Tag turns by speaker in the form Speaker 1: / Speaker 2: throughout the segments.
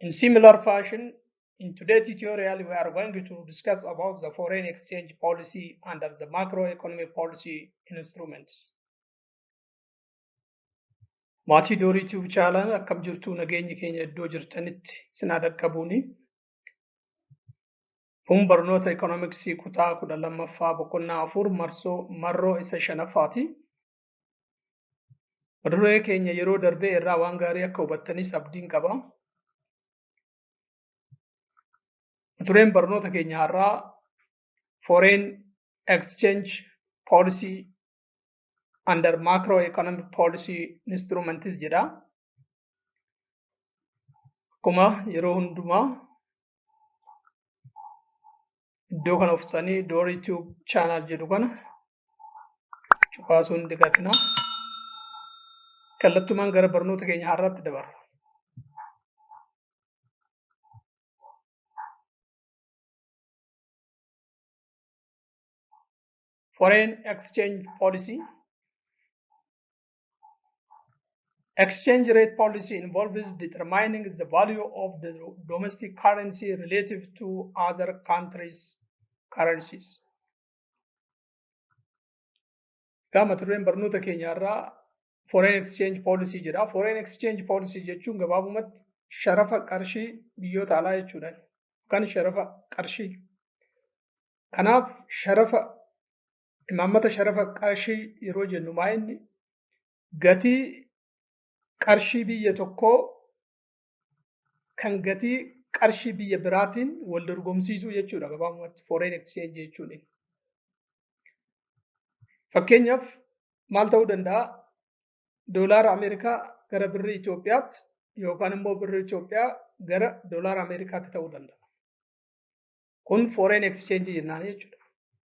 Speaker 1: In similar fashion, in today's tutorial, we are going to discuss about the foreign exchange policy under the macroeconomic policy instruments. Maatii Doorii Tube Channel akkam jirtu nageenyi keenya iddoo jirtanitti isin haa dhaqqabuuni. Kun barnoota ekonomiksii kutaa kudha lammaffaa boqonnaa afur marsoo marroo isa shanaffaati. Maduree keenya yeroo darbee irraa waan gaarii akka hubattanis abdiin qaba. Madureen barnoota keenya har'aa foreign exchange policy under macroeconomic policy instruments jedha. Akkuma yeroo hundumaa iddoo kana uffisanii door youtube channel jedhu kana cufaasuun digatina kallattumaan gara barnoota keenya har'aatti dabarra. Foreign exchange policy Exchange rate policy involves determining the value of the domestic currency relative to other countries' currencies. Egaa mata dureen barnoota keenyaarraa foreign exchange policy jedha. Foreign exchange policy jechuun gabaabumatti sharafa qarshii biyyoota alaa jechuudha. Yookaan sharafa qarshii. Kanaaf sharafa imaammata sharafa qarshii yeroo jennu maa inni gatii qarshii biyya tokkoo kan gatii qarshii biyya biraatiin wal dorgomsiisuu jechuudha gabaabumatti foreign exchange jechuun. Fakkeenyaaf maal ta'uu danda'a? Doolaara Ameerikaa gara birrii Itoophiyaatti yookaan immoo birrii Itoophiyaa gara doolaara Ameerikaatti ta'uu danda'a. Kun foreign exchange jennaan jechuudha.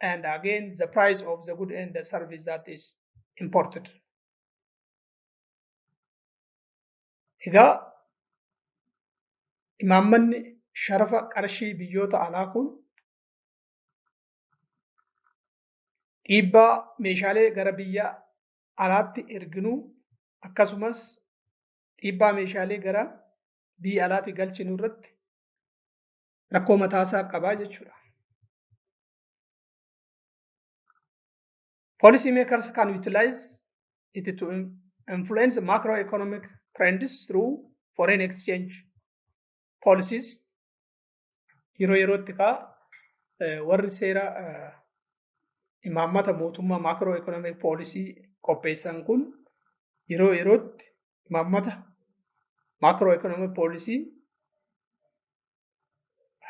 Speaker 1: and again the price of the good and the service that is imported. Egaa imaammanni sharafa qarshii biyyoota alaa kun dhiibbaa meeshaalee gara biyya alaatti erginuu akkasumas dhiibbaa meeshaalee gara biyya alaatti galchinu irratti rakkoo mataasaa qabaa jechuudha. Policy makers can utilize it to influence macroeconomic trends through foreign exchange policies. Yeroo yerootti kaa warri seera imaammata mootummaa macroeconomic policy qopheessan kun yeroo yerootti imaammata maakroo ekonomii poolisii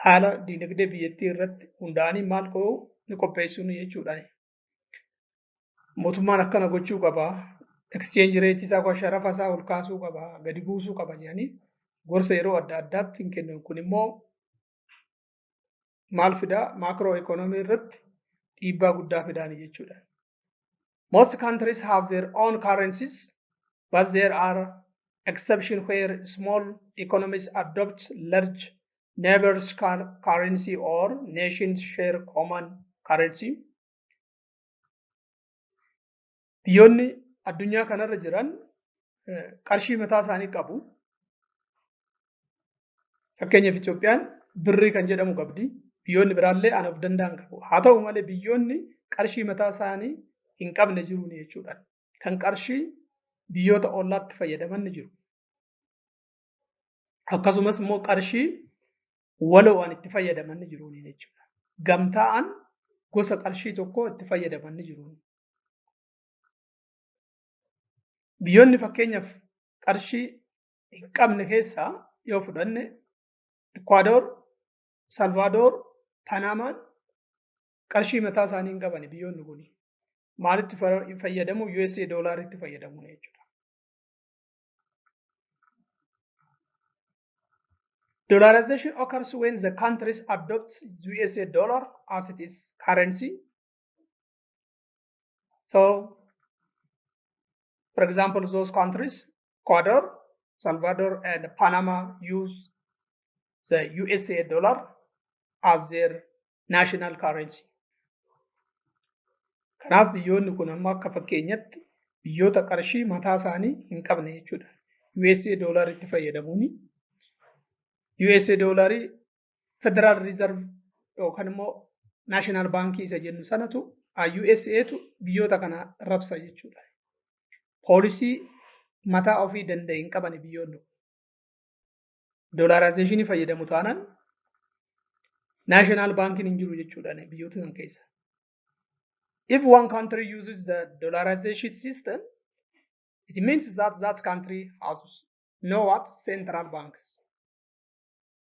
Speaker 1: haala diinagdee biyyattii irratti hundaa'anii maal ta'u ni qopheessuun jechuudha. Mootummaan akkana gochuu qaba. Exchange rate isaa yookaan sharafa isaa ol kaasuu qaba, gadi buusuu qaba jedhanii gorsa yeroo adda addaatti hin kennan. Kun immoo maal fidaa? Maakroo ekonomii irratti dhiibbaa guddaa fidaani jechuudha. Most countries have their own currencies, but there are exceptions where small economies adopt large neighbors' currency or nations share common currency. Biyyoonni addunyaa kanarra jiran qarshii mataa isaanii qabu. Fakkeenyaaf Itoophiyaan birrii kan jedhamu qabdi. Biyyoonni biraallee aan of danda'an qabu. Haa ta'u malee biyyoonni qarshii mataa isaanii hin qabne jiru jechuudha. Kan qarshii biyyoota ollaatti fayyadaman ni jiru. Akkasumas immoo qarshii waloo waan itti fayyadaman ni jiru jechuudha. Gamtaa'an gosa qarshii tokko itti fayyadaman ni jiru. Biyyoonni fakkeenyaaf qarshii hin qabne keessaa yoo fudhanne Ikwaadoor, Salvaadoor, Panaamaan qarshii mataa isaanii hin qabani biyyoonni kun. Maalitti fayyadamu? USA doolaaritti fayyadamu jechuudha. Dollarization occurs when the countries adopt USA dollar as it is currency. So For example, those countries, Ecuador, Salvador, and Panama use the USA dollar as their national currency. Kanaaf biyyoonni kun amma akka fakkeenyatti biyyoota qarshii mataa isaanii hin qabne jechuudha. USA dollar itti fayyadamuun USA dollar Federal Reserve yookaan immoo National Bank isa jennu sanatu USAtu biyyoota kana rabsa jechuudha. Poolisii mataa ofii danda'e hin qabani biyyoonni kun. Doolaaraayizeeshinii fayyadamu taanaan National Bankin hin jiru jechuudha biyyoota san keessa. If one country uses the dollarization system, it means that that country has no what central banks.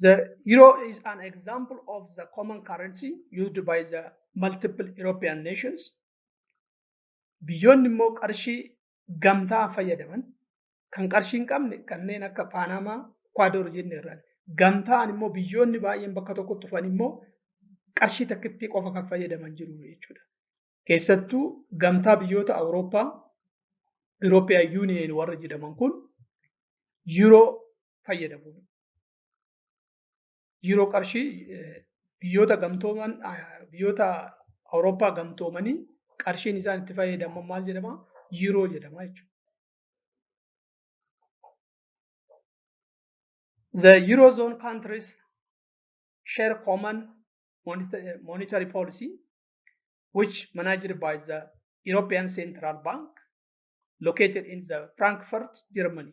Speaker 1: The euro is an example of the common currency used by the multiple European nations. Biyyoonni immoo qarshii gamtaa fayyadaman kan qarshii hin qabne kanneen akka Paanamaa, Ekwaadoor jenne irraan gamtaan immoo biyyoonni baay'een bakka tokkotti dhufan immoo qarshii takkittii qofa kan fayyadaman jiru jechuudha. Keessattuu gamtaa biyyoota Awurooppaa European Union warra jedhaman kun yeroo fayyadamuun yeroo qarshii biyyoota gamtooman biyyoota Awurooppaa gamtoomanii qarshiin isaan itti fayyadaman maal jedhama? Yeroo jedhama jechuudha. The Eurozone countries share common monetary policy which managed by the European Central Bank located in the Frankfurt, Germany.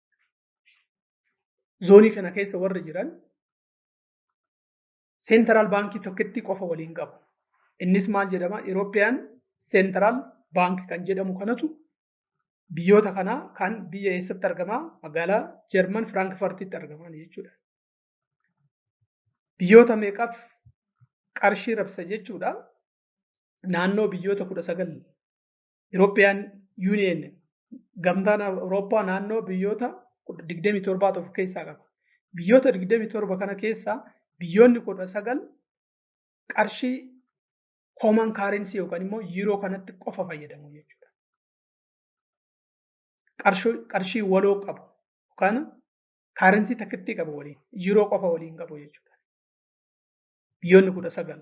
Speaker 1: zoonii kana keessa warri jiran seentaraal baankii tokkotti qofa waliin qabu. Innis maal jedhama? Irooppiyaan seentaraal baank kan jedhamu kanatu biyyoota kanaa kan biyya eessatti argama? Magaalaa Jarman Firaankfartitti argaman jechuudha. Biyyoota meeqaaf qarshii rabsa jechuudha. Naannoo biyyoota kudha sagal European Union gamtaan Awurooppaa naannoo biyyoota 27 of keessaa qaba. Biyyoota 27 kana keessaa biyyoonni 19 qarshii common currency yookaan immoo yeroo kanatti qofa fayyadamu jechuudha. Qarshii waloo qabu yookaan currency takkittii qabu waliin yeroo qofa waliin qabu jechuudha. Biyyoonni 19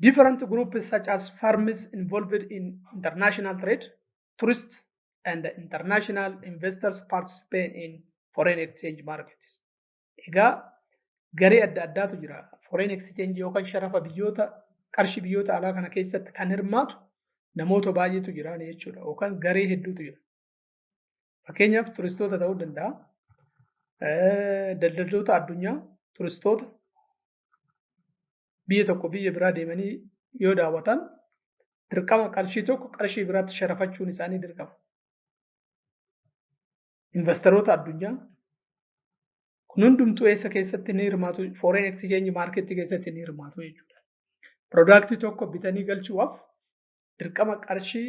Speaker 1: Different groups such as firms involved in international trade, tourists, and international investors participate in foreign exchange markets. Egaa garee adda addaatu jira. Foreign exchange yookaan sharafa biyyoota qarshii biyyoota alaa kana keessatti kan hirmaatu namoota baay'eetu jira jechuudha. Yookaan garee hedduutu jira. Fakkeenyaaf turistoota ta'uu danda'a. Daldaltoota addunyaa turistoota biyya tokko biyya biraa deemanii yoo daawwatan dirqama qarshii tokko qarshii biraatti sharafachuun isaanii dirqama. Investaroota addunyaa kun hundumtuu eessa keessatti ni hirmaatu foreign exchange market keessatti ni hirmaatu jechuudha. Piroodaaktii tokko bitanii galchuudhaaf dirqama qarshii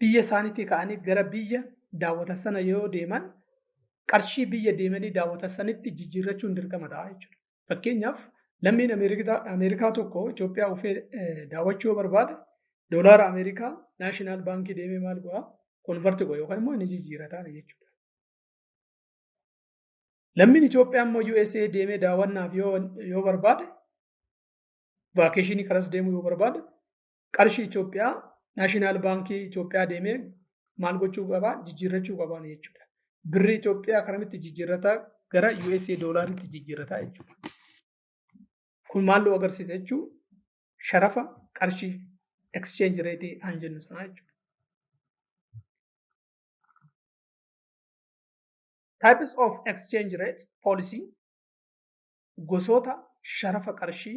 Speaker 1: biyya isaaniitii ka'anii gara biyya daawwatan sana yoo deeman qarshii biyya deemanii daawwatan sanitti jijjiirrachuun dirqama ta'a jechuudha. Fakkeenyaaf lammiin Ameerikaa tokko Itoophiyaa dhufee daawwachuu yoo barbaade doolaara Ameerikaa naashinaal baankii deemee maal godhaa konvarti godha yookaan immoo inni jijjiirataa jechuudha. Lammiin Itoophiyaa immoo USA deemee daawwannaaf yoo barbaade vaakeeshinii kanas deemuu yoo barbaade Qarshii Itoophiyaa Naashinaal Baankii Itoophiyaa deemee maal gochuu qaba? Jijjiirrachuu qaba jechuudha. Birrii Itoophiyaa karamitti jijjiirrata gara USA doolaaritti jijjiirrata jechuudha. Kun maal nu agarsiisa jechuun sharafa qarshii exchange rate aan jennu sanaa jechuudha. Types of exchange rate policy gosoota sharafa qarshii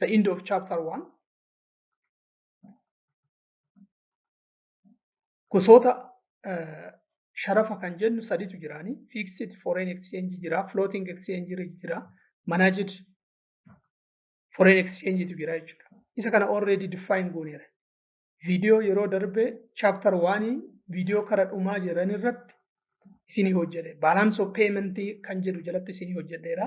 Speaker 1: the end of chapter 1 gosoota eh, sharafa kan jennu saditu jiraani fixed foreign exchange jira floating exchange jira managed foreign exchange tu jira jechuudha isa kana already define gooneera viidiyoo yeroo darbe chapter 1 viidiyoo kara dhumaa jiran irratti isinii hojjedhe balance of payment kan jedhu jalatti isinii hojjedheera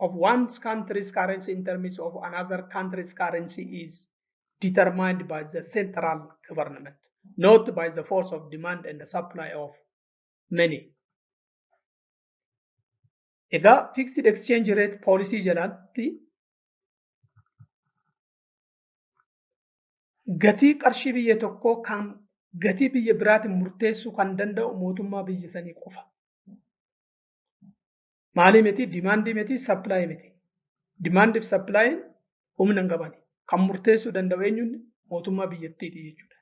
Speaker 1: of one country's currency in terms of another country's currency is determined by the central government, not by the force of demand and the supply of money. Egaa fixed exchange rate policy jalatti gatii qarshii biyya tokkoo kan gatii biyya biraatiin murteessuu kan danda'u mootummaa biyya sanii qofa. maalii miti dimaandii miti sappilaayii miti. Dimaandiif sappilaayii humna hin qabani. Kan murteessuu danda'u eenyuun mootummaa biyyattiiti jechuudha.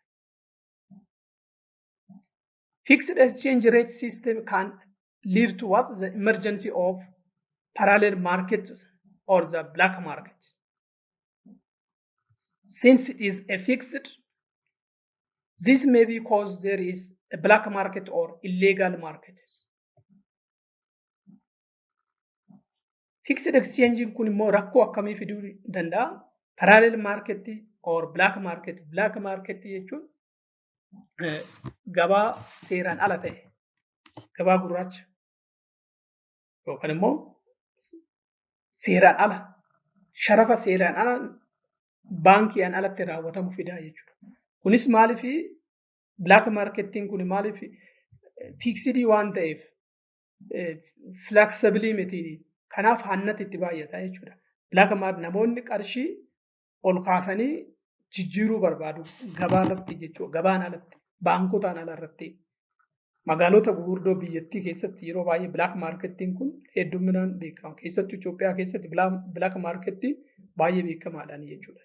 Speaker 1: Fixed exchange rate system can lead to what the emergency of parallel market or the black market. Since it is a fixed, this may be cause there is a black market or illegal markets. Fixed exchange kun immoo rakkoo akkamii fiduu danda'a? Parallel market or black market. Black market jechuun gabaa seeraan ala ta'e, gabaa gurraacha yookaan immoo seeraan ala, sharafa seeraan ala baankiidhaan alatti raawwatamu fidaa jechuudha. Kunis maaliif Black markettiin kun maaliif fiiksidii waan ta'eef filaksabilii miti. Kanaaf hannati itti baay'ata jechuudha. Black market namoonni qarshii ol kaasanii jijjiiruu barbaadu gabaa alatti jechuudha. Gabaan alatti baankotaan ala irratti magaalota gurguddoo biyyattii keessatti yeroo baay'ee black markettiin kun hedduminaan beekama. Keessattuu Itoophiyaa keessatti black markettiin baay'ee beekamaadhaan jechuudha.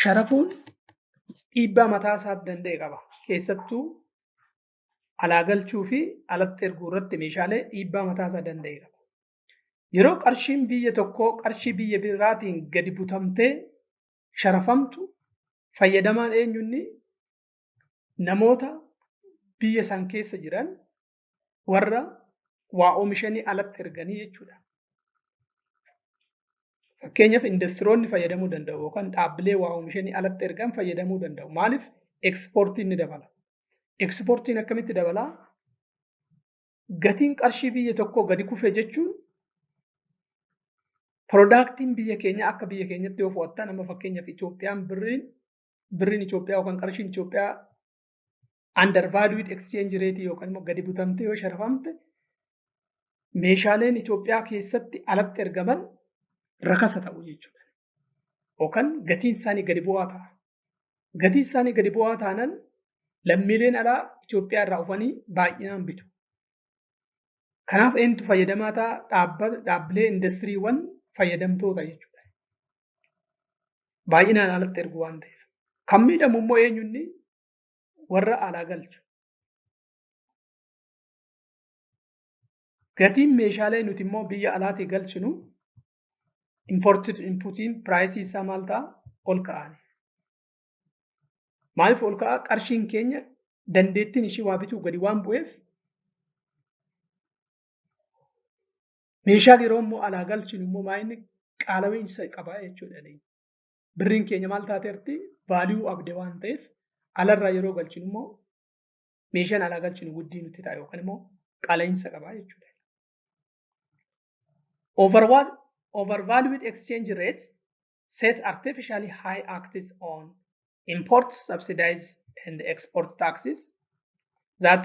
Speaker 1: Sharafuun dhiibbaa mataa isaa danda'e qaba. Keessattuu alaa galchuu fi alatti erguu irratti meeshaalee dhiibbaa mataa isaa danda'e qaba. Yeroo qarshiin biyya tokkoo qarshii biyya biraatiin gadi butamtee sharafamtu fayyadamaan eenyunni namoota biyya san keessa jiran warra waa oomishanii alatti erganii jechuudha. Fakkeenyaaf industiroonni fayyadamuu danda'u yookaan dhaabbilee waa oomishanii alatti ergan fayyadamuu danda'u. Maaliif ekspoortiin ni dabala. Ekspoortiin akkamitti dabalaa? Gatiin qarshii biyya tokkoo gadi kufe jechuun piroodaaktiin biyya keenya akka biyya keenyatti yoo fudhattan amma fakkeenyaaf Itoophiyaan birriin birriin Itoophiyaa yookaan qarshiin Itoophiyaa undervalued exchange rate yookaan immoo gadi butamtee yoo sharafamte meeshaaleen Itoophiyaa keessatti alatti ergaman rakasa ta'u jechuudha. Yookaan gatiin isaanii gadi bu'aa ta'a. Gatiin isaanii gadi bu'aa taanan lammiileen alaa Itoophiyaa irraa dhufanii baay'inaan bitu. Kanaaf eenyutu fayyadamaa ta'a dhaabbilee indastiriiwwan fayyadamtoota jechuudha. Baay'inaan alatti ergu waan ta'eef. Kan miidhamu immoo eenyunni warra alaa galchu. Gatiin meeshaalee nuti immoo biyya alaatii galchinu imported inputiin piraayisii isaa maal ta'a? Ol ka'aani. Maaliif ol ka'a? Qarshiin keenya dandeettiin ishii waa bituu gadi waan bu'eef meeshaan yeroo immoo alaa galchinu immoo maayinni qaala'iinsa qaba jechuudha. birriin keenya maal taateerti vaaliyuu abde waan ta'eef alarraa yeroo galchinu immoo meeshaan alaa galchinu guddii nutti ta'a yookaan immoo qaala'insa qaba jechuudha. Overall, overvalued exchange rate set artificially high acts on import subsidies and export taxes that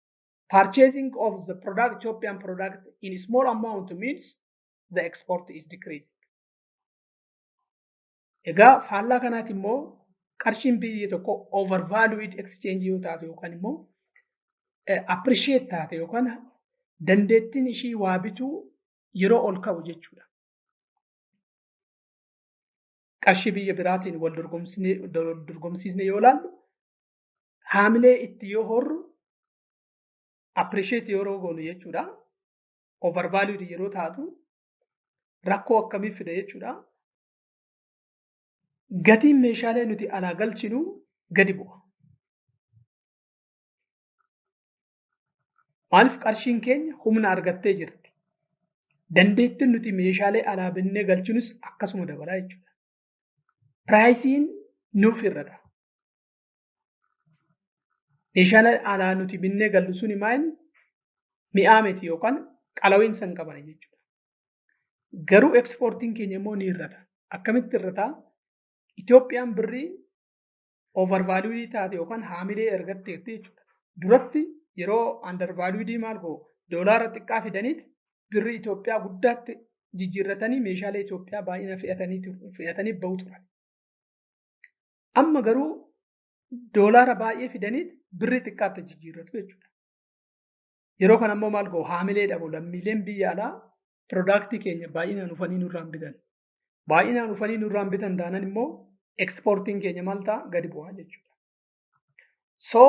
Speaker 1: purchasing of the product Ethiopian product in small amount means the export is decreasing. Egaa faallaa kanaati immoo qarshiin biyya tokko overvalued exchange yoo taate yookaan immoo appreciate taate yookaan dandeettiin ishii waa bituu yeroo ol ka'u jechuudha. Qarshii biyya biraatiin wal dorgomsiisne yoo ilaallu haamilee itti yoo horru appreciate yeroo goonu jechuudha. Overvalued yeroo taatu rakkoo akkamii fida jechuudha. Gatiin meeshaalee nuti alaa galchinu gadi bu'a. Maaliif qarshiin keenya humna argattee jirti. Dandeettiin nuti meeshaalee alaa binnee galchinus akkasuma dabalaa jechuudha. Piraayisiin nuuf hir'ata. Meeshaan alaa nuti binnee gallu suni maal mi'aa miti yookaan qalaween san qabana jechuudha. Garuu ekspoortiin keenya immoo ni hir'ata. Akkamitti hir'ata? Itoophiyaan birrii overvalued taate yookaan haamilee ergatteetti jechuudha. Duratti yeroo undervalued maal goo doolaara xiqqaa fidaniit birrii Itoophiyaa guddaatti jijjiirratanii meeshaalee Itoophiyaa baay'ina fe'atanii fe'atanii bahu turan. Amma garuu doolaara baay'ee fidanii birrii xiqqaatti jijjiirratu jechuudha. Yeroo kana immoo maal ga'u haamilee dhabu lammiileen biyya alaa piroodaaktii keenya baay'inaan dhufanii nurraan bitan. Baay'inaan dhufanii nurraan bitan taanan immoo ekspoortiin keenya maal ta'a gadi bu'aa jechuudha. So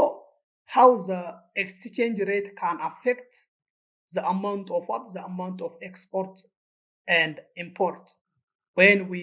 Speaker 1: how the exchange rate can affect the amount of what the amount of export and import when we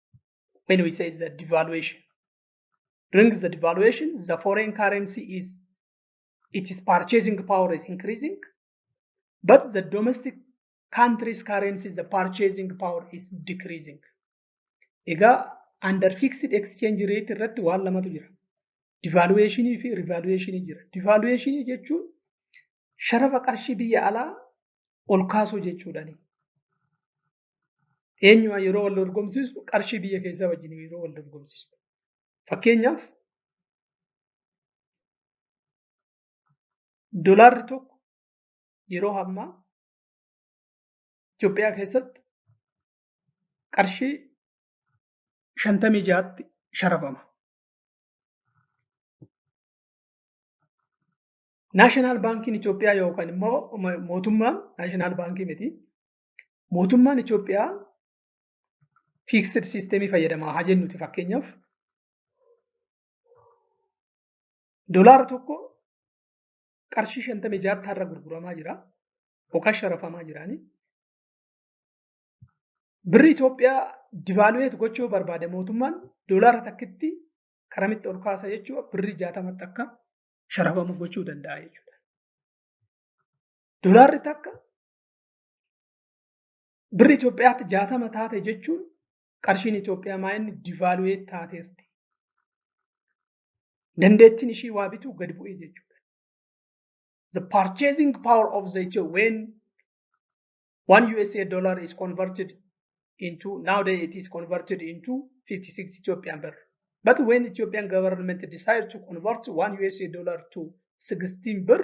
Speaker 1: when we say the devaluation during the devaluation the foreign currency is its purchasing power is increasing but the domestic country's currency the purchasing power is decreasing egaa under fixed exchange rate irratti waan lamatu jira devaluation fi revaluation jira devaluation jechuun sharafa qarshii biyya alaa ol kaasuu jechuudhani eenyumaa yeroo wal dorgomsiistu qarshii biyya keessaa wajjin yeroo wal dorgomsiistu. Fakkeenyaaf dolaarri tokko yeroo ammaa Itoophiyaa keessatti qarshii shantamii ja'atti sharafama. Naashinaal baankiin Itoophiyaa yookaan immoo mootummaan naashinaal baankii miti Mootummaan Itoophiyaa fiiksed siisteemii fayyadamaa haa jennuti fakkeenyaaf dolaara tokko qarshii shantamii jaatti har'a gurguramaa jira yookaan sharafamaa jiraani. Birri Itoophiyaa divaaluweet gochuu barbaade mootummaan dolaara takkitti karamitti ol kaasa jechuudha birri jaatamatti akka sharafamu gochuu danda'a jechuudha. Dolaarri takka Birri Itoophiyaatti jaatama taate jechuun qarshiin Itoophiyaa maa inni divaalu'ee taateerti. Dandeettiin ishii waa bituu gad bu'ee jechuudha. The purchasing power of the Ethio when one USA dollar is converted into nowadays it is converted into 56 Ethiopian birr. But when Ethiopian government decided to convert one USA dollar to 16 birr,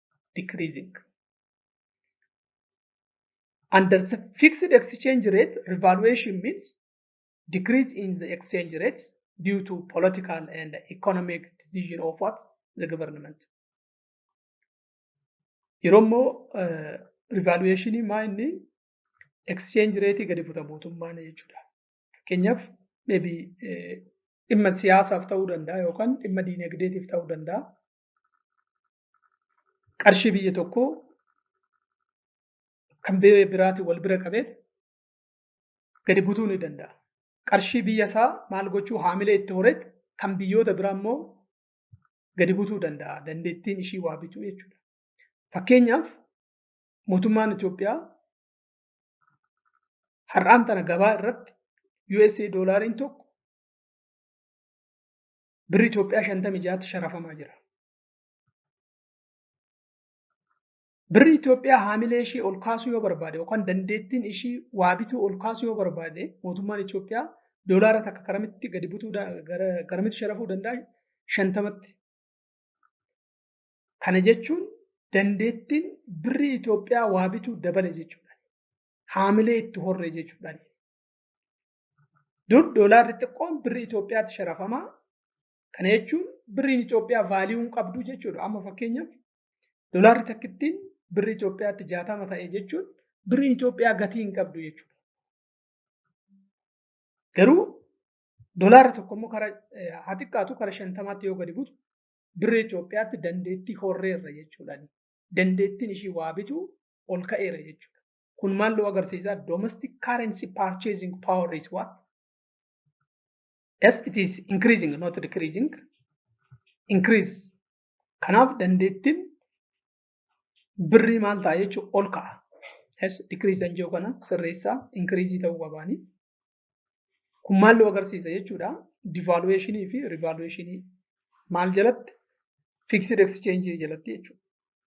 Speaker 1: decreasing. Under the fixed exchange rate, revaluation means decrease in the exchange rates due to political and economic decision of what the government. Yeroo immoo revaluation maa inni exchange rate gadi buta mootummaan jechuudha. Fakkeenyaaf maybe dhimma siyaasaaf ta'uu danda'a yookaan dhimma diinagdeetiif ta'uu danda'a. qarshii biyya tokkoo kan biyya biraatiin wal bira qabee gadi butuu ni danda'a. Qarshii biyya isaa maal gochuu haamilee itti horee kan biyyoota biraa immoo gadi butuu danda'a. Dandeettiin ishii waa bituu jechuudha. Fakkeenyaaf mootummaan Itoophiyaa har'aan tana gabaa irratti USA doolaariin tokko birri Itoophiyaa 56tti sharafamaa jira. Birri Itoophiyaa haamilee ishii ol kaasuu yoo barbaade yookaan dandeettiin ishii waa bituu ol kaasuu yoo barbaade mootummaan Itoophiyaa doolaara takka karamitti gadi butuu garamitti sharafuu danda'a shantamatti. Kana jechuun dandeettiin birri Itoophiyaa waa bituu dabale jechuudha. Haamilee itti horre jechuudha. Dur doolaarri xiqqoon birri Itoophiyaatti sharafamaa Kana jechuun birriin Itoophiyaa vaaliyuu hin qabdu jechuudha. Amma fakkeenyaaf dolaarri takkittiin birri Itoophiyaatti jaatama ta'e jechuun birriin Itoophiyaa gatii hin qabdu jechuudha. Garuu dolaarri tokko immoo kara haa xiqqaatu kara shantamaatti yoo gadi butu birri Itoophiyaatti dandeettii horreerra jechuudha. Dandeettiin ishii waa bitu ol ka'eera jechuudha. Kun maal nu agarsiisa? Domestic currency purchasing power is what? yes it is increasing not decreasing increase kanaaf dandeettiin birrii maal ta'a jechuun ol ka'a yes decrease kan jiru kana sirreessaa increase ta'uu qabaani kun maal nu agarsiisa jechuudha devaluation fi revaluation maal jalatti fixed exchange jalatti jechuudha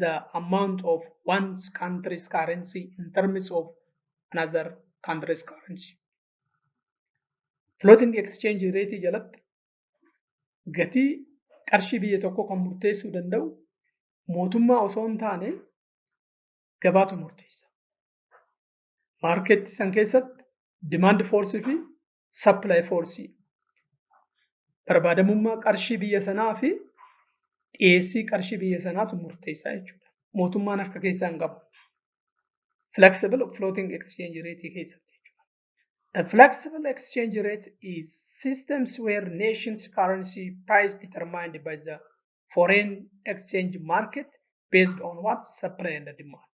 Speaker 1: the amount of one's country's currency in terms of another country's currency. Floating exchange rate jalatti gatii qarshii biyya tokko kan murteessuu danda'u mootummaa osoo hin taane gabaatu murteessa. Maarkeetti san keessatti demand force fi supply force barbaadamummaa qarshii biyya sanaa fi dhiyeessii qarshii biyya sanaatu murteessaa jechuudha. Mootummaan harka keessaa hin qabu. Flexible floating exchange rate keessatti jechuudha. The flexible exchange rate is systems where nations currency price determined by the foreign exchange market based on what supply and demand.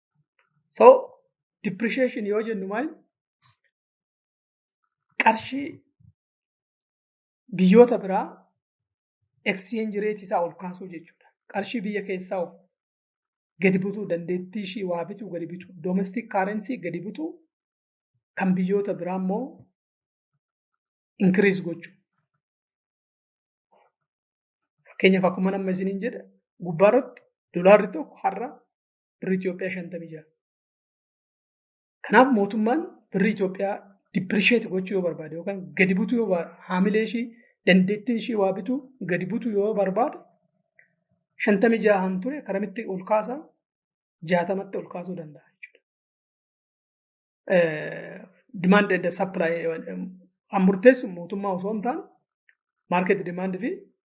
Speaker 1: So depreciation yoo jennu maal qarshii biyyoota biraa exchange rate isaa ol kaasuu jechuudha. Qarshii biyya keessaa gadi butuu dandeettii ishii waa bituu gadi bituu domestic currency gadi butuu kan biyyoota biraa immoo increase gochuu. Fakkeenyaaf akkuma nama isiniin jedha gubbaarratti dolaarri tokko har'a birri Itoophiyaa shantamii ja'a. Kanaaf mootummaan birri Itoophiyaa dippirisheeti gochuu yoo barbaade yookaan gadi butuu yoo barbaade haamilee ishii dandeettiin ishii waa bituu gadi butuu yoo barbaade shantamii jahaan ture karamitti ol kaasa jaatamatti ol kaasuu danda'a jechuudha. Demand and supply murteessu mootummaa osoo hin taane maarkeet demand fi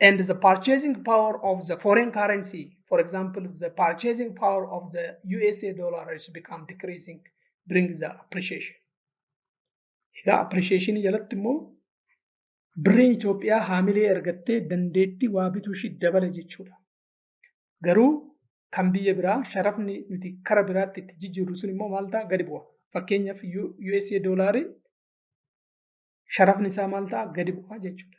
Speaker 1: and the purchasing power of the foreign currency, for example, the purchasing power of the USA dollar has become decreasing during the appreciation. Egaa appreciation jalatti immoo birriin Itoophiyaa haamilee argattee dandeettii waa bituu ishii dabale jechuudha. Garuu kan biyya biraa sharafni nuti kara biraatti itti jijjiirru sun immoo maal ta'a gadi bu'a. Fakkeenyaaf USA doolaariin sharafni isaa maal ta'a gadi bu'a jechuudha.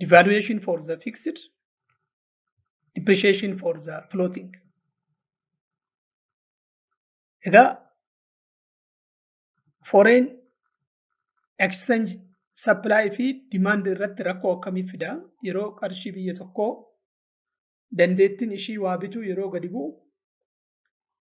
Speaker 1: devaluation for the fixed depreciation for the floating egaa foreign exchange supply fi demand irratti rakkoo akkamii fida yeroo qarshii biyya tokkoo dandeettiin ishii waa bituu yeroo gadi bu'u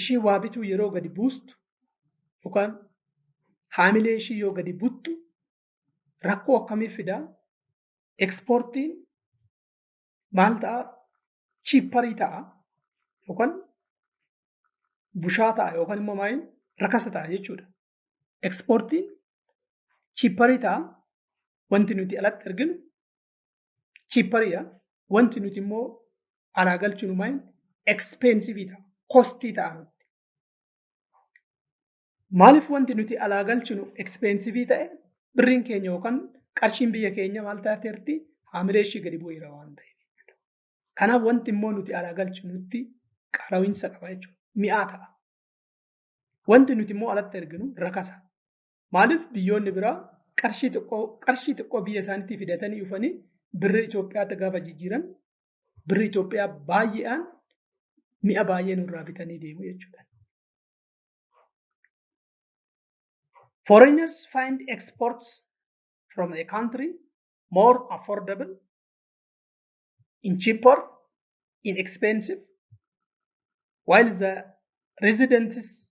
Speaker 1: ishii waa bituu yeroo gadi buustu yookaan haamilee ishii yoo gadi buttu rakkoo akkamii fida? Ekspoortiin maal ta'a? Chiipparii ta'a yookaan bushaa ta'a yookaan immoo maal rakasa ta'a jechuudha. Ekspoortiin chiipparii ta'a wanti nuti alatti arginu chiippariidha. Wanti nuti immoo alaa galchinu maal ekspeensivii ta'a. Kostii ta'a nutti. Maaliif wanti nuti alaa galchinu ekspeensivii ta'e birriin keenya yookaan qarshiin biyya keenya maal taateerti haamilee ishii gadi bu'eera waan ta'eef. Kanaaf wanti immoo nuti alaa galchinu nutti qaalawiinsa qaba jechuudha. Mi'aa ta'a. Wanti nuti immoo alatti erginu rakasa. Maaliif biyyoonni biraa qarshii xiqqoo qarshii xiqqoo biyya isaaniitii fidatanii dhufanii birri Itoophiyaatti gaafa jijjiiran birri Itoophiyaa baay'eedhaan mi'a baay'ee nurraa bitanii deemu jechuudha. Foreigners find exports from a country more affordable, in cheaper, inexpensive, while the residents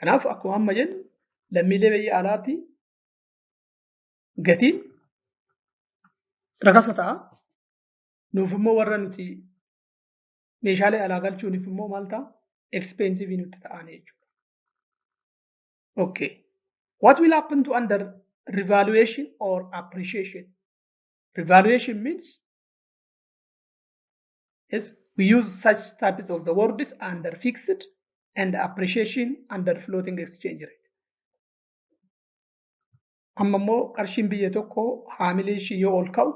Speaker 1: Kanaaf akkuma amma jennu lammiilee biyya alaatti gatiin rakasa ta'a. Nuuf immoo warra nuti meeshaalee alaa galchuuniif immoo maal ta'a? Expensive nutti ta'an jechuudha. Okay. What will happen to under revaluation or appreciation? Revaluation means Yes, we use such types of the words under fixed and appreciation under floating exchange rate. Amma immoo qarshiin biyya tokko haamilee ishii yoo ol ka'u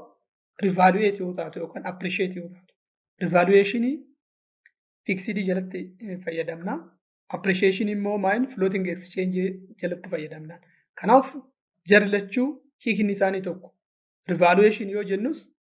Speaker 1: rivaluate yoo taatu yookaan appreciate yoo taatu. Rivaluation fixidii jalatti eh, fayyadamna. Appreciation immoo maayin floating exchange jalatti fayyadamna. Kanaaf jarri lachuu hiikni isaanii tokko. Rivaluation yoo jennus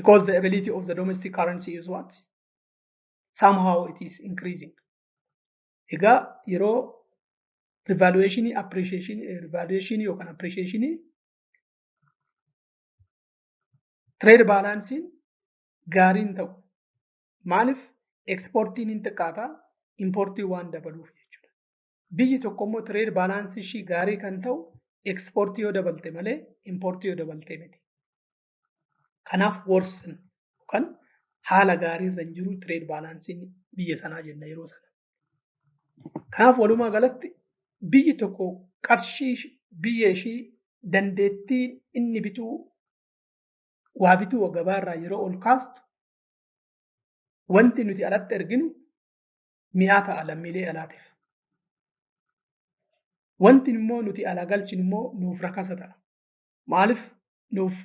Speaker 1: because the ability of the domestic currency is what somehow it is increasing egaa yeroo revaluation appreciation revaluation yookaan appreciation trade balance gaariin ta'u maaliif exportiin hin xiqqaata importii waan dabaluuf jechuudha biyyi tokko immoo trade balance ishii gaarii kan ta'u exportii yoo dabalte malee importii yoo dabalte miti Kanaaf worsen yookaan haala gaarii irra hin jiru trade baalaansiin biyya sanaa jenna yeroo sana. Kanaaf walumaa galatti biyyi tokko qarshii biyya ishii dandeettii inni bituu waa bituu gabaa irraa yeroo ol kaastu wanti nuti alatti erginu mi'aa ta'a lammiilee alaatiif. Wanti immoo nuti alaa galchinu immoo nuuf rakasa ta'a. maaliif nuuf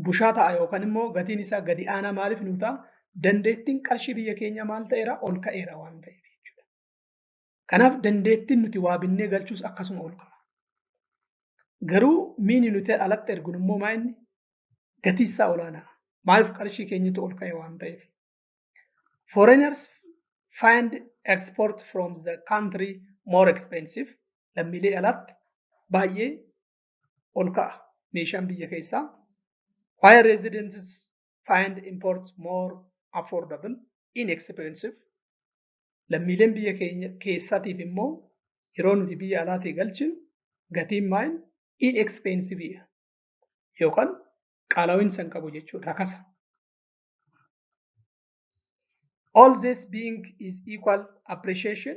Speaker 1: bushaa ta'a yookaan immoo gatiin isaa gadi aanaa maaliif nuu ta'a? Dandeettiin qarshii biyya keenyaa maal ta'eera? Ol ka'eera waan ta'eef jechuudha. Kanaaf dandeettiin nuti waa binnee galchuus akkasuma ol ka'a. Garuu miini nuti alatti erginu immoo maa inni gatii isaa olaanaa. Maaliif qarshii keenyatu ol ka'e waan ta'eef. Foreigners find export from the country more expensive. Lammiilee alaatti baay'ee ol ka'a meeshaan biyya keessaa why residents find imports more affordable inexpensive lammiileen biyya keenya keessaatiif immoo yeroo nuti biyya alaatii galchinu gatiin maayin inexpensive yookaan qaala'insa hin qabu jechuudha rakasa. All this being is equal appreciation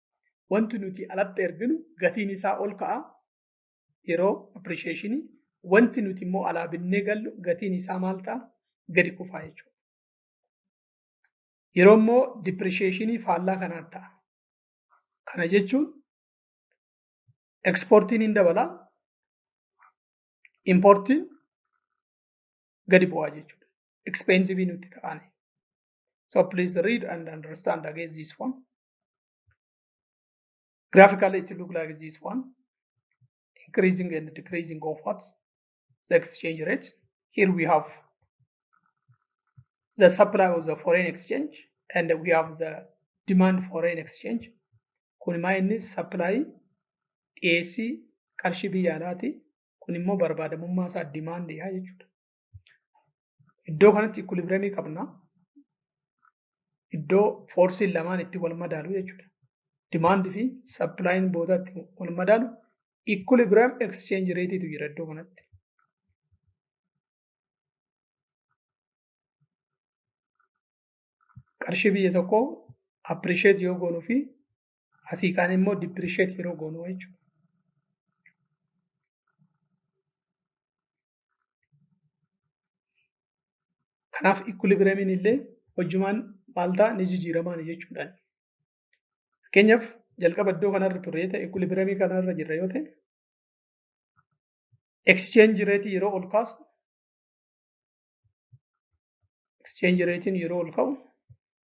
Speaker 1: wanti nuti alatti erginu gatiin isaa ol ka'a yeroo appreciation wanti nuti immoo alaa binnee gallu gatiin isaa maal ta'a gadi kufaa jechuudha. Yeroo immoo depreciation faallaa kanaan ta'a. Kana jechuun ekspoortiin hin dabala importiin gadi bu'aa jechuudha. Expensive nutti ta'ani. So please read and understand against this one. Graphically, it looks like this one, increasing and decreasing of what? The exchange rate. Here we have the supply of the foreign exchange and we have the demand foreign exchange. Kun immoo inni supply dhiyeessii qarshii biyya alaati. Kun immoo barbaadamummaa isaa demand yaa jechuudha. Iddoo kanatti ikkulibiramii qabna. Iddoo foorsiin lamaan itti wal madaalu jechuudha. Dimaand fi sappilaayini booda itti wal madaalu ikkulibiram eksichenji reetiitu jira iddoo kanatti. Qarshii biyya tokko appirisheet yoo goonuu fi asii kaan immoo dippirisheet yeroo goonuu jechuudha. Kanaaf ikkulibireemiin illee hojjumaan maal ta'a ni jijjiiramaan jechuudha. Fakkeenyaaf jalqaba iddoo kanarra turre ta'e ikkulibireemii kanarra jirra yoo ta'e exchange rate yeroo ol kaasu exchange ratein yeroo ol ka'u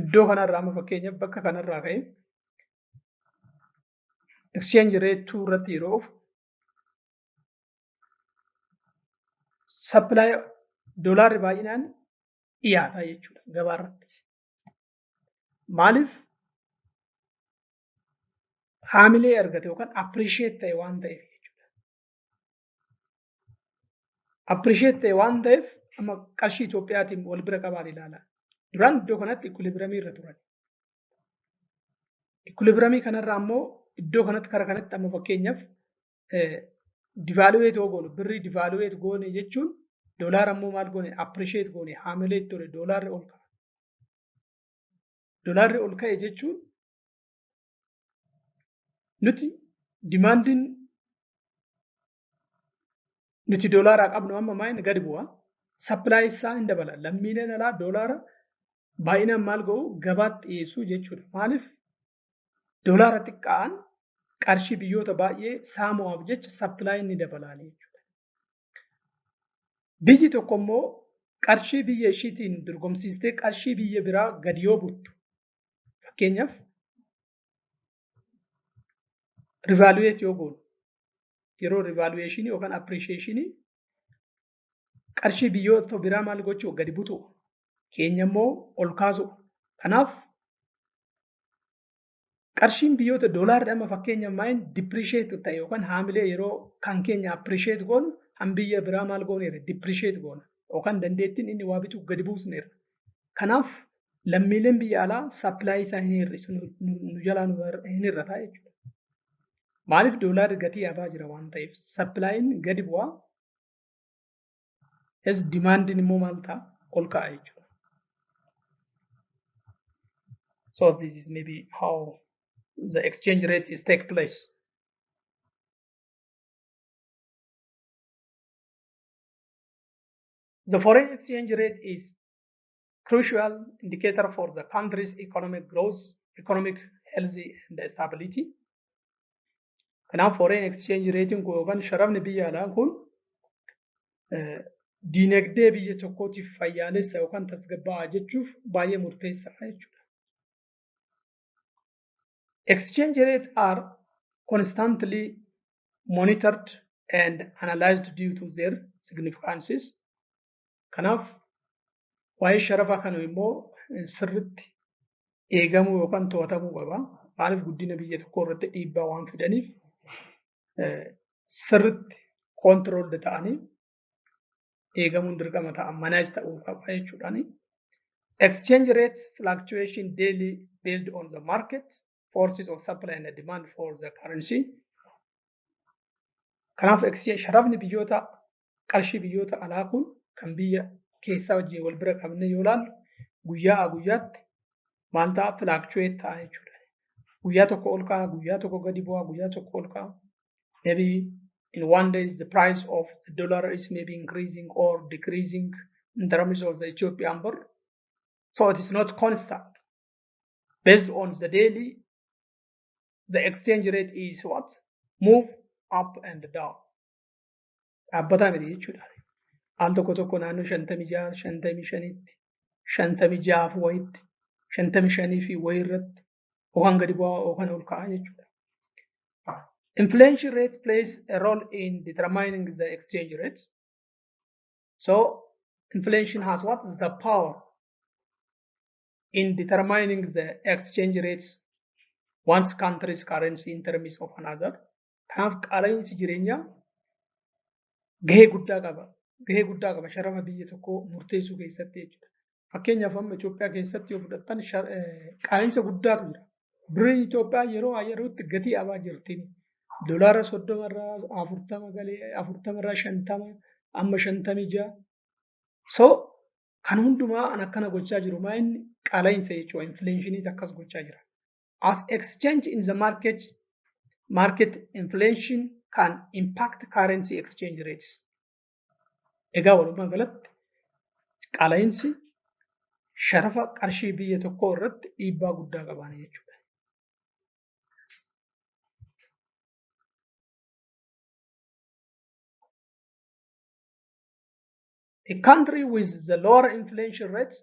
Speaker 1: iddoo kanarraa amma fakkeenyaaf bakka kanarraa ka'e exchange rate 2 irratti yeroo ofu supply doolaarri baay'inaan dhiyaata jechuudha gabaa irratti. Maaliif haamilee argate yookaan appreciate ta'e waan ta'eef jechuudha. appreciate ta'e waan ta'eef amma qarshii Itoophiyaatiin wal bira qabaan ilaala. Duraan iddoo kanatti equilibramii irra turan. Equilibramii kanarraa ammoo iddoo kanatti kara kanatti amma fakkeenyaaf divaaluweet yoo goone birrii divaaluweet goone jechuun doolaara ammoo maal goone appreciate goone haamilee itti ture doolaarri ol ka'a. Doolaarri ol ka'e jechuun nuti dimaandiin nuti doolaaraa qabnu amma maal gadi bu'a sappilaay isaa hin dabala lammiileen alaa doolaara baay'inaan maal ga'u gabaatti dhiyeessuu jechuudha maaliif doolaara xiqqaan qarshii biyyoota baay'ee saamu'aaf jecha sappilaay ni dabalaa jechuudha. Biyyi tokko immoo qarshii biyya ishiitiin dorgomsiistee qarshii biyya biraa gadi yoo buttu Fakkeenyaaf rivaaluweet yoo goonu yeroo rivaaluweeshinii yookaan appirisheeshinii qarshii biyyoota biraa maal gochuu gadi butuu keenya immoo ol kaasuu. Kanaaf qarshiin biyyoota doolaarri amma fakkeenyaaf maayin dipirisheetu ta'e yookaan haamilee yeroo kan keenya appirisheet goonu han biyya biraa maal gooneerra dipirisheet goona yookaan dandeettiin inni waa bituu gadi buusneerra. Kanaaf lammiileen biyya alaa sappilaayii isaa hin hir'isu nu jalaa nu hin hir'ataa jechuudha. Maaliif doolaarri gatii abaa jira waan ta'eef sappilaayiin gadi bu'aa es dimaandiin immoo maal ta'a ol ka'a jechuudha. So this is maybe how the exchange rate is take place. The foreign exchange rate is crucial indicator for the country's economic growth, economic health and stability. Kanaaf foreign exchange rate kun yookaan sharafni biyya alaa kun diinagdee biyya tokkootiif fayyaalessa yookaan tasgabbaa'aa jechuuf baay'ee murteessaadha jechuudha. Exchange rate are constantly monitored and analyzed due to their significances. Kanaaf waa'ee sharafa kana immoo sirritti eegamuu yookaan to'atamuu qaba. Maaliif guddina biyya tokkoo irratti dhiibbaa waan fidaniif sirritti koontirooldi ta'anii eegamuun dirqama ta'a manaaj ta'uu qaba jechuudhaani. Exchange rates fluctuation daily based on the market forces of supply and demand for the currency. Kanaaf sharafni biyyoota qarshii biyyoota alaa kun kan biyya keessaa wajjin wal bira qabnee yoo ilaallu guyyaa a guyyaatti maal ta'a filaakchuweet ta'a jechuudha. Guyyaa tokko ol ka'a, guyyaa tokko gadi bu'a, guyyaa tokko ol ka'a. Maybe in one day the price of the dollar is maybe increasing or decreasing in terms of the Ethiopian birr. So it is not constant. Based on the daily, the exchange rate is what? Move up and down. dhaabbataa miti jechuudha. Al tokko tokko naannoo shantamii jaha shantamii shanitti shantamii jahaaf wayitti shantamii shanii fi wayii irratti yookaan gadi bu'aa yookaan ol ka'aa jechuudha. Inflation rate plays a role in determining the exchange rate. So inflation has what? The power in determining the exchange rates once country's currency in terms of another. Kanaaf qaala'iinsi jireenyaa gahee guddaa qaba. Gahee guddaa qaba sharama biyya tokkoo murteessuu keessatti jechuudha. Fakkeenyaaf amma Itoophiyaa keessatti yoo fudhattan qaala'iinsa guddaatu jira. Birrii Itoophiyaa yeroo yerootti gatii abaa jirti. Dolaara soddoma irraa afurtama galee afurtama irraa shantama amma shantamii ja'a. So kan hundumaa an akkana gochaa jiru maa inni qaala'iinsa jechuudha. Infileeshiniitu akkas gochaa jira. as exchange in the market market inflation can impact currency exchange rates. Egaa walumaa galatti qaala'insi sharafa qarshii biyya tokkoo irratti dhiibbaa guddaa qabaana jechuudha. A country with the lower inflation rates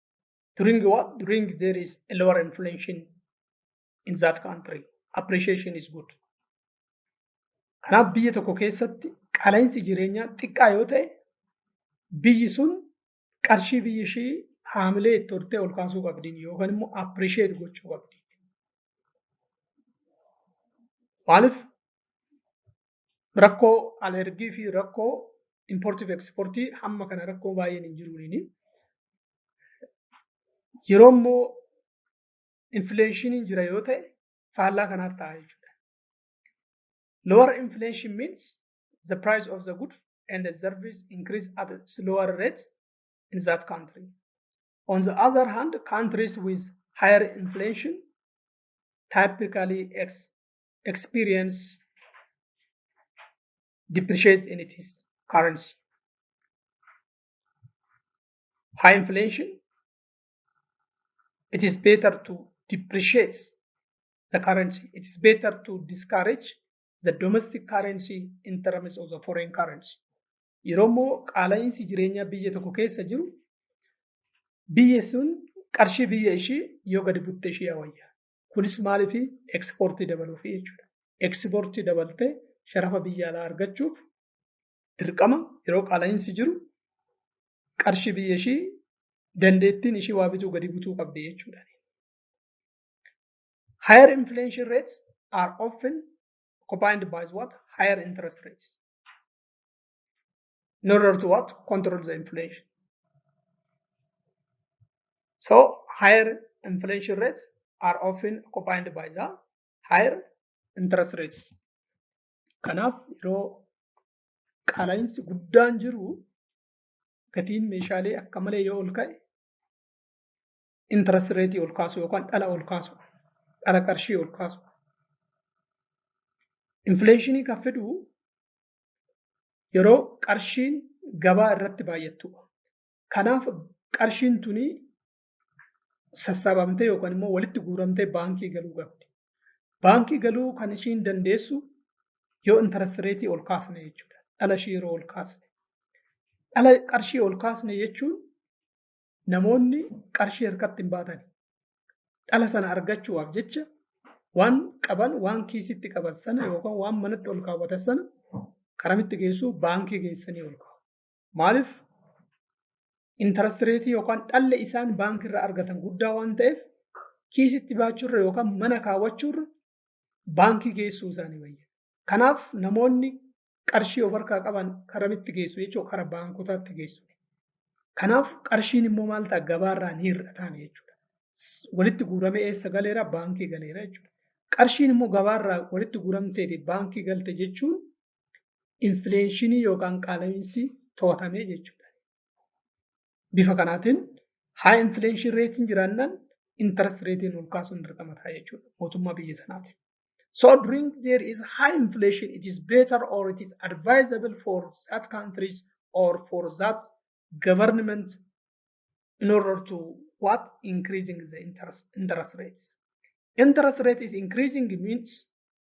Speaker 1: during what during there is a lower inflation in that country appreciation is good kanaaf biyya tokko keessatti qaala'insi jireenyaa xiqqaa yoo ta'e biyyi sun qarshii biyyi ishii haamilee itti hortee ol kaasuu qabdiin yookaan immoo appreciate gochuu qabdi maaliif Rakkoo alergii fi rakkoo importiif eksportii hamma kana rakkoo baay'een hin jiruuniini. Yeroo immoo infleeshiniin jira yoo ta'e faallaa kanaaf ta'a jechuudha. Lower inflation means the price of the good and the service increase at a slower rate in that country. On the other hand, countries with higher inflation typically ex experience depreciate in its currency. High inflation, it is better to depreciate the currency. It is better to discourage the domestic currency in terms of the foreign currency. Yeroo immoo qaala'iinsi jireenyaa biyya tokko keessa jiru biyya sun qarshii biyya ishii yoo gadi butte ishii wayya. Kunis maaliifi ekspoortii dabaluufi jechuudha. Ekspoortii dabaltee sharafa biyya alaa argachuuf dirqama yeroo qaala'iinsi jiru qarshii biyya ishii dandeettiin ishii waa bituu gadi butuu qabdi jechuudha. Higher inflation rates are often combined by what? Higher interest rates. in order to what control the inflation so higher inflation rates are often accompanied by the higher interest rates kanaaf yeroo qaala'insi guddaan jiru gatiin meeshaalee akka malee yoo ol ka'e interest rate ol kaasu yookaan dhala ol kaasu dhala qarshii ol kaasu infleeshinii kan fidu yeroo qarshiin gabaa irratti baay'attuudha. Kanaaf qarshiin tuni sassaabamtee yookaan immoo walitti guuramtee baankii galuu qabdi. Baankii galuu kan ishiin dandeessu yoo interest rate ol kaasne jechuudha. Dhala ishii yeroo ol kaasne. Dhala qarshii ol kaasne jechuun namoonni qarshii harkatti hin baatan. Dhala sana argachuudhaaf jecha waan qaban waan kiisitti qaban sana yookaan waan manatti ol kaawwatan sana qaramitti geessuu baankii geessanii ol kaa'u. Maaliif intarastireetii yookaan dhalli isaan baankiirra argatan guddaa waan ta'eef kiisitti baachuurra yookaan mana kaawwachuurra baankii geessuu isaanii wayya. Kanaaf namoonni qarshii of harkaa qaban karamitti geessu jechuudha kara baankotaatti geessu. Kanaaf qarshiin immoo maal ta'a gabaarraa ni hir'ataan jechuudha. Walitti guuramee eessa galeera baankii galeera jechuudha. Qarshiin immoo gabaarraa walitti guuramteeti baankii galte jechuun infileenshinii yookaan qaala'iinsi to'atamee jechuudha. Bifa kanaatiin high inflation reetiin jiraannaan interest reetiin ol kaasuun dirqama ta'a jechuudha mootummaa biyya sanaatiif. So during there is high inflation, it is better or it is advisable for that countries or for that government in order to what increasing the interest interest rates. Interest rate is increasing means